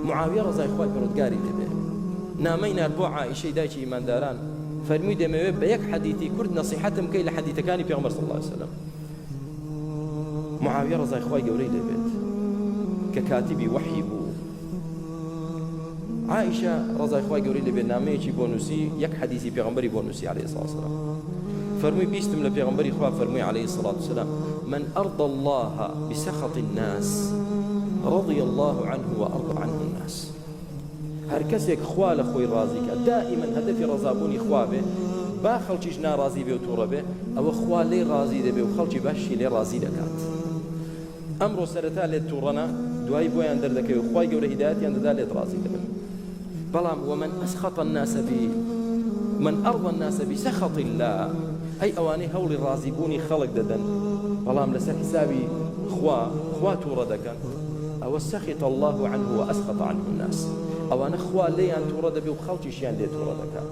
معاویە ڕزای خوای پڕۆدگاری دەبێ نامەی نار بۆ عیشەی دایکی ئیمانداران فەرمی دەمەوێت بە یەک حەدیتی کورد نەسیحەتم کەی لە حەدیتەکانی پێغمبەر صلی الله عليه وسلم معاویە ڕزای خوای گەورەی دەبێت کە کاتیبی وەحی بوو عائیشە ڕەزای خوای گەورەی لەبێ نامەیەکی بۆ نووسی یەک حەدیسی پێغەمبەری بۆ نووسی علیه الصلاة والسلام فەرمووی بیستم لە پێغەمبەری خوا فەرمووی علیه الصلاة والسلام من ارضى الله بسخط الناس رضي الله عنه وارضى عنه الناس هەر کەسێک خوا لە خۆی ڕازی کە دائما هەدەفی ڕەزابوونی خوا بێ با خەڵکیش ناڕازی بێ و تووڕە بێ ئەوە خوا لێ ڕازی دەبێ و خەڵکی باشی لێ ڕازی دەکات ئەمڕۆ سەرەتا لێت توڕەنە دوایی بۆیان دەردەکەوێ و خوای گەورە هیدایەتیان دەدا لێت ڕازی دەبن بەڵام ومن اسخط الناس بی من ارضى الناس بسخط الله ئەی ئەوانەی هەوڵی ڕازی بوونی خەڵک دەدەن بەڵام لەسەر حسابی خوا خوا توڕە دەکەن ئەوە سەخیت الله عنه و ئەسخط عنه الناس ئەوانە خوا لێیان توڕە دەبێ و خەڵکیشیان لێ توڕە دەکا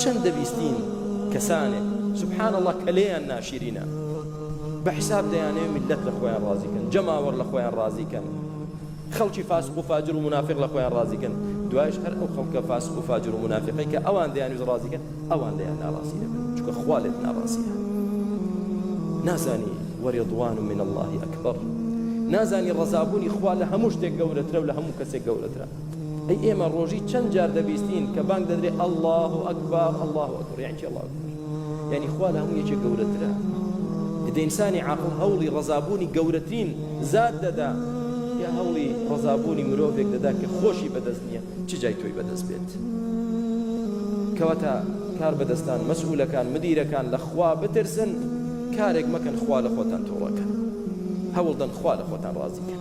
چەند دەبیستین کەسانێک سبحان الله کە لێیان ناشیرینە بە حیساب دەیانەوێ میللەت لە خۆیان ڕازی کەن، جەماوەر لە خۆیان ڕازی کەن، خەڵکی فاسق و فاجر و مونافیق لە خۆیان ڕازی کەن، دوایش هەر ئەو خەڵکە فاسق و فاجر و مونافیقەی کە ئەوان دەیانویست ڕازی کەن ئەوان لێیان ناڕازی دەبن، چونکە خوا لێت ناڕازییە. نازانی وەرێضوان من اللە ئەکبەر، نازانی ڕەزابوونی خوا لە هەموو شتێک گەورەترە و لە هەموو کەسێک گەورەترە. ئەی ئێمە ڕۆژی چەند جار دەبیستین کە بانگ دەدرێ ئەله و ئەکبار ئەله و ئەکبر یان چی ئەڵا یعنی خوا لە هەموو یەکێک گەورەترە دەئسانی عقل هەوڵی ڕزابوونی گەورەترین زاد دەدا یا هەوڵی ڕزابوونی مرۆڤێک دەدا کە خۆشی بەدەست نییە چ جای تۆی بەدەست بێت کەواتە کار بەدەستان مەسئولەکان مدیرەکان لە خوا بترسن کارێک مەکەن خوا لە خۆتان تۆڵەکەن هەوڵدەن خوا لە خۆتان ڕازیکەن